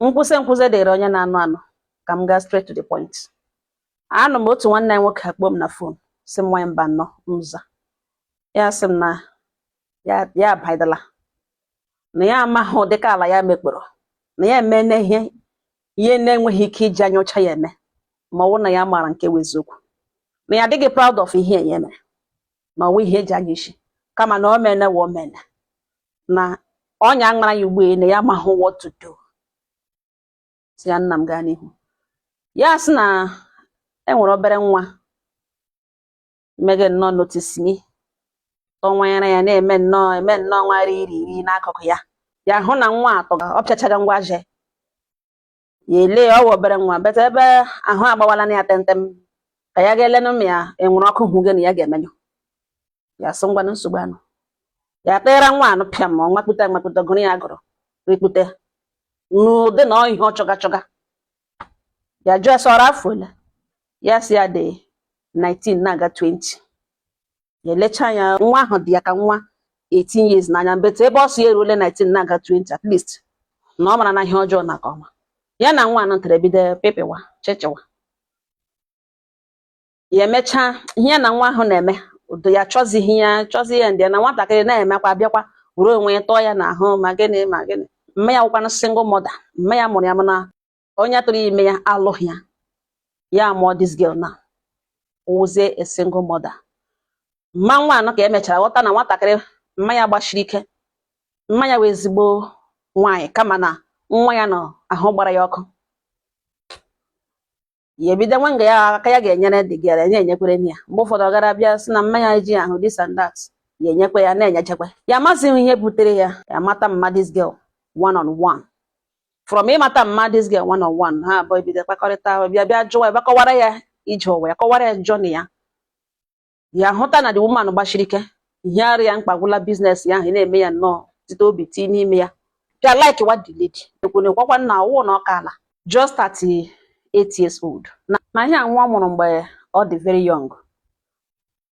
nkwụsị nkwụsị dịrị onye na-anụ anụ ka m gaa straight to the point anụ m otu nwanne anyị nwoke akpọ m na phone sị m nwanyị mba nnọọ m za ya sị m na ya abaidala na ya amaghị ụdịka ala ya mekpọrọ na ya emena ihe ihe na-enweghị ike iji anya ọcha ya eme ma ọ bụrụ na ya maara nke bụ eziokwu na ya adịghị proud of ihe ya mere na ọ wụ ihe e ji anya isi kama na o mene wụ o mene na ọnya amara ya ugbu a na ya amaghị what to do sị ya nna m gaa n'ihu ya sị na e nwere obere nwa mege nnọọ notice me tọnwanyere ya na-eme nnọọ eme nnọọ nwa riri iri n'akụkụ ya ya hụ na nwa atọ ọ pịachaga ngwa je ya ele ya ọ wụ obere nwa but ebe ahụ agbawala na ya tentem ka ya ga-elenụ ma e nwere ọkụ hụ gị na ya ga-emenyụ ya sị ngwanụ nsogbu anọ ya teera nwa anụ pịa ma ọ nwakpute nwakpute gụrụ ya gụrụ rikpute n'ụdị na ihe ọ chọga chọga ya jụọ sị ọ rị afọ ole ya sị ya dị 19 na-aga 20 ya elecha anya nwa ahụ dị ya ka nwa 18 years n'anya but ebe ọ sị ya eruole 19 na-aga 20 at least na ọ marana ihe ọjọọ na nke ọma ya na nwa anụ tere bido pepewa chechewa ya emechaa ihe ya na nwa ahụ na-eme udo ya chọzighị ya chọzi ya ndị ya na nwatakịrị na-emekwa bịakwa were onwe ya tọọ ya n'ahụ ma gịnị ma gịnị mma ya wụkwanụ single mother mma ya mụrụ ya mana onye tụrụ ime ya alụghị ya ya amụọ this girl na wụzie a single mother mma nwa anụ ka e mechara ghọta na nwatakịrị mma ya gbashiri ike mma ya wụ ezigbo nwaanyị kama na nwa ya nọ ahụ gbara ya ọkụ ya ebido nwa nga ya aka ya ga-enyere the girl ya enyekwere ya mgbe ụfọdụ ọ gara bịa sị na mma ya ji ahụ this and that ya enyekwa ya na-enyechekwa ya amazighị ihe butere ya ya mata mma this girl one on one from ịmata mma this girl one on one ha abụọ ebido kpakọrịta ahụ bịa bịa jụwa ebe kọwara ya ije ụwa ya kọwara ya journey ya ya hụta na the woman gbashiri ike ihe rị ya mkpa wụla business ya ahụ na-eme ya nnọọ site obi tii n'ime ya bịa likewa the lady ekwene kwakwa nna ọ wụ na ọ ka ala just 38 years old na ihe a nwa ọ mụrụ mgbe ọ dị very young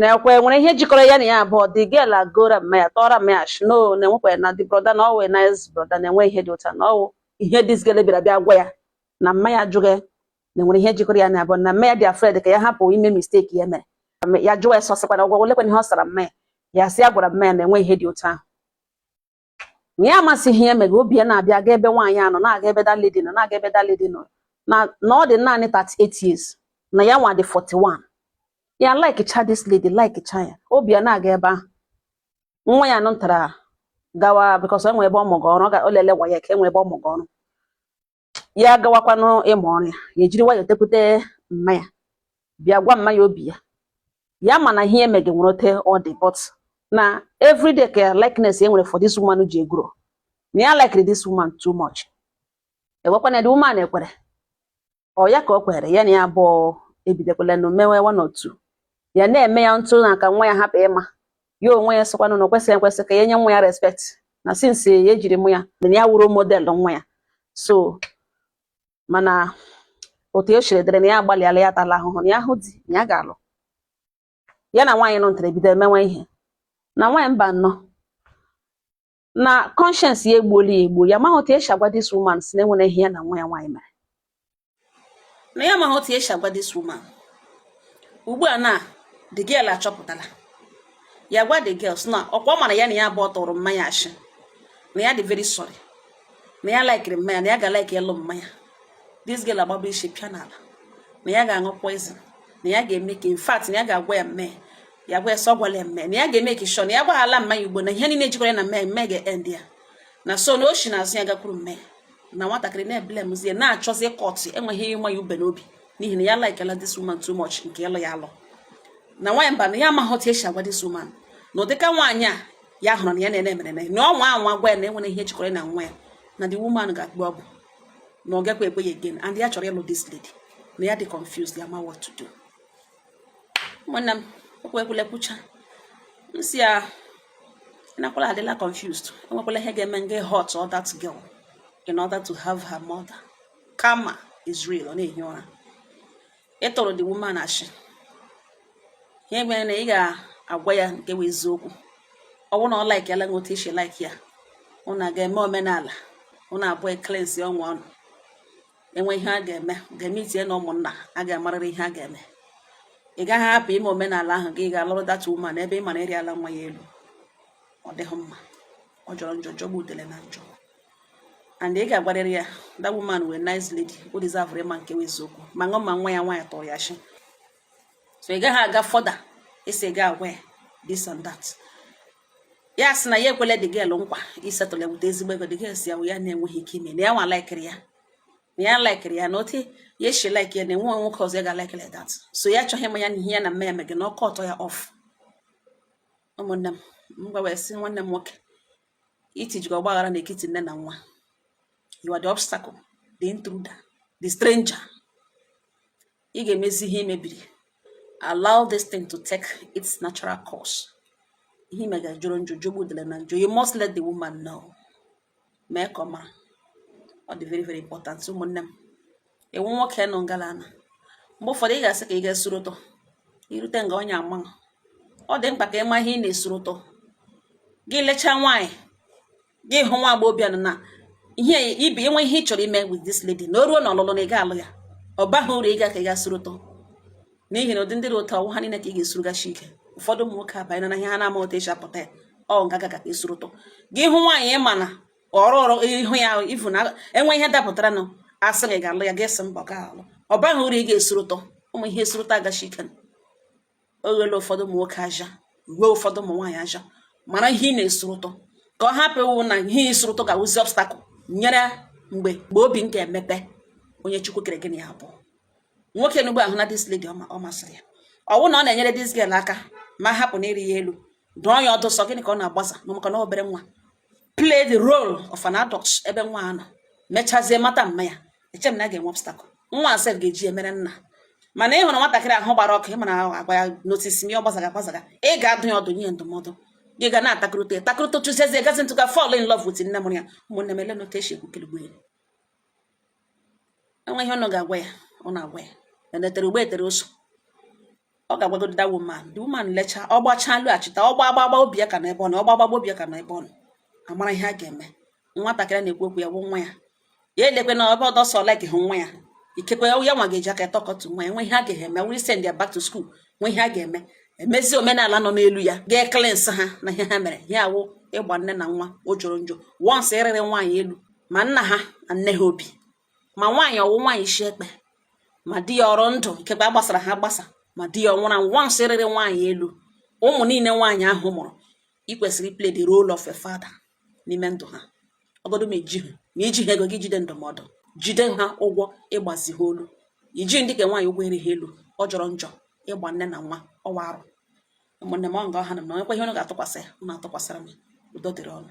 na ekwe nwere ihe jikọrọ ya na ya abụọ the girl agọra mma ya tọọra mma ya sị no na enwekwa na the brother na ọ wụ nice brother na enwe ihe dị otu a na ọ wụ ihe this girl bịara bịa gwa ya na mma ya jụghị na nwere ihe jikọrọ ya na abụọ na mma ya dị afraid ka ya hapụ ime mistake ya mere ya jụwa ya sọsịkwa na ọgwagwọ lekwa ihe ọ sara mma ya ya sị ya gwara mma ya na enwe ihe dị otu ahụ na ya amasịghị ihe mega obi ya na-abịa aga ebe nwaanyị a nọ na-aga ebe that lady nọ na-aga ebe that lady nọ na ọ dị naanị 38 years na ya nwa dị 41 ya like cha this lady like cha ya obi ya na-aga ebe ahụ nwa ya nọ ntara gawa because enwe ebe ọ mụga ọrụ ọ ga- o lele WAEC enwe ebe ọ mụga ọrụ ya gawakwanụ ịmụ ọrụ ya ya ejiri nwayọọ tekwute mma ya bịa gwa mma ya obi ya ya ma na ihe emega nwere ote ọ dị but na everyday ka likeness e nwere for this woman ji e-grow na ya likere this woman too much ewekwana the woman ekwere ọ ya ka o kwere ya na ya abụọ ebidekwalenụ mewe one or two ya na-eme ya ntụ na ka nwa ya hapụ ịma ya onwe ya sịkwanụ na o kwesịrị ekwesị ka ya nye nwa ya respect na since ya ejiri mụ ya na ya wụ role model nwa ya so mana ote o shiri dịrị na ya agbalịala ya tala ahụhụ na ya hụ di na ya ga-alụ ya na nwaanyị nọ ntere bido emewe ihe na nwaanyị mba nnọọ na conscience ya egbuola ya egbuo ya amaghị otu esi agwa this woman sị na enwere ihe ya na nwa ya nwaanyị mere na ya amaghị otu esi agwa this woman ugbu a na the girl achọpụtala ya gwa the girl sị na ọkwa ọ mara ya na ya abụọ tụrụ mma ya ashị na ya dị very sorry na ya likere mma ya na ya ga like ịlụ mma ya this girl agbaba isi pịa n'ala na ya ga-aṅụ poison na ya ga-eme ka in fact na ya ga-agwa ya mma ya ya gwa ya sị ọ gwala mma ya na ya ga-make sure na ya gbaghala mma ya ugbu a na ihe niile jikọrọ ya na mma ya ga-end ya na so na o si n'azụ ya gakwuru mma ya na nwatakịrị na-eblamezi ya na-achọzi kọtụ enweghị ịma ya ube n'obi n'ihi na ya likela this woman too much nke ịlụ ya alụ na nwaanyị mba na ya amaghị otu esi agwa this woman na ụdịka nwaanyị a ya hụrụ n'anya na-ene mere na ọ nwaa anwa gwa ya na enwere ihe jikọrọ ya na nwa ya na the woman ga-akpọ ugwo na ọ gakwa ekwe ya again and ya chọrọ ịlụ this lady na ya dị confused ya ma what to do ụmụnne m okwu ekwule kwucha m sị ya nakwala adịla confused enwekwala ihe ga-eme ị ga hurt that girl in order to have her mother karma is real ọ na-ehi ụra ị tụrụ the woman ashị ihe mere na ị ga-agwa ya nke bụ eziokwu ọ bụrụ na ọ like ya la ote i shi like ya ụnụ aga eme omenala ụnụ abụọ e-cleanse onwe ụnụ enwe ihe a ga-eme ga-eme meeting ụmụnna a ga-amarịrị ihe a ga-eme ị gaghị hapụ ime omenala ahụ gị ga alụrụ that woman ebe ị mara i riala nwa ya elu ọ dịghị mma ọ jọrọ njọ jọgbu udele na njọ and ị ga-agwarịrị ya that woman wụ nice lady o deserve ịma nke eziokwu ma gị ma nwa ya nwaanyị tụrụ ya ashị so ị gaghị aga further ịsị ị ga agwa ya this and that ya sị na ya ekwele the girl nkwa i-settle ya with ezigbo ego the girl sị ya ya na-enweghị ike ime na ya nwa likere ya na ya likere ya na otu ya shi like ya na enwe nwoke ọzọ ya ga-like like that so ya achọghị ịma ya na ihe ya na mma ya mega na ọ cut ya off ụmụnne m m gwa wee sị nwanne m nwoke itijikọ ọgbaghara n'etiti nne na nwa you are the obstacle the intruder the stranger ị ga-emezi ihe mebiri allow this thing to take its natural course ihe mega jọrọ njọ jọgbu udele na njọ you must let the woman know mee ka ọ mara ọ dị very very important ụmụnne m ị wụ nwoke nọ ngala na mgbe ụfọdụ ị ga-asị ka ị gaa suru ụtọ irute nga onye ama ọ dị mkpa ka ị ma ihe ị na-esuru ụtọ gị lechaa nwaanyị gị hụ nwa agbọghọbịa nọ na ihe ibe i nwe ihe ị chọrọ ime with this lady na o ruo na ọlụlụ na ị ga-alụ ya ọ baghị uru ịga ka ị ga-esuru ụtọ n'ihi na ụdị ndị dị ụtọ ọwụ ha niile ka ị ga-esurugachi ike ụfọdụ ụmụ nwoke abanye na ihe ha na-ama otu esi apụta ya ọ ngaga ka esuru ụtọ gị hụ nwaanyị ị ma na ọrụ ọrụ ihu ya ifu na enwe ihe dapụtara na asị gị ga-alụ ya ga-asị mba ọ ga-alụ ọ baghị uru ị ga-esuru ụtọ ụmụ ihe esuru ụtọ agachi ike ọ ghọọla ụfọdụ ụmụ nwoke ahịa ghọọ ụfọdụ ụmụ nwaanyị ahịa mara ihe ị na-esuru ụtọ ka ọ hapụ ịwụ na ihe ị suru ụtọ ga-awụzi obstacle nyere mgbe mgbe obi m ga-emepe onye chukwu kere gị na ya abụọ nwoke n'ugbo ahụ na this lady ọ masịrị ya ọwụ na ọ na-enyere this girl aka ma hapụ na ịrị ya elu dụọ ya ọdụ sị ọ gịnị ka ọ na-agbaza na maka na obere nwa play the role of an adult ebe nwa a nọ mechazie mata mma ya eche m na a ga-enwe obstacle nwa a sef ga-eji emere nna mana ị hụrụ nwatakịrị ahụ gbara ọkụ ị ma na agwa ya notice me ọ gbazaga gbazaga ị ga-adụ ya ọdụ nye ndụmọdụ gị ga na-atakụrụta atakụrụta chụziezi gazi ntụka fall in love with nne mụrụ ya ụmụnne m ele notation kwukere enwe ihe unu ga-agwa ya unu agwa ya enetere ugbo etere ụsọ ọ ga-agwagodo that woman the woman lecha ọ gbachaa laghachite ọ gbaa gbagba obi ya ka na ebe ọ nọ ọ gbaa gbagba obi ya ka na ebe ọ nọ amara ihe a ga-eme nwatakịrị na-ekwu okwu ya bụ nwa ya ya elekwe na ebe ọdọ sọ like hụ nwa ya ikekwe ya nwa ga-eji aka talk to nwa ya nwe ihe a ga-eme were send ya back to school nwe ihe a ga-eme emezi omenala nọ n'elu ya gaa cleanse ha na ihe ha mere ya wụ ịgba nne na nwa ọ jọrọ njọ once ị rịrị nwaanyị elu ma nna ha na nne ha obi ma nwaanyị ọwụ nwaanyị isi ekpe ma di ya ọ dị ndụ ikekwe ha gbasara agbasa ma di ya ọ nwụrụ anwụ once ị rịrị nwaanyị elu ụmụ niile nwaanyị ahụ mụrụ ị kwesịrị play the role of a father n'ime ndụ ha ọwụgodu ma i ji ha ma i ji ha ego gị jide ndụmọdụ jide ha ụgwọ ịgbazi ha olu i ji ndị ka nwaanyị ụgwọ arịghị elu ọ jọrọ njọ ịgba nne na nwa ọwụ arụ ụmụnne m ọ nga ọha na m na nwekwa ihe unu ga-atụkwasị ya unu atụkwasịra m udo dịrị unu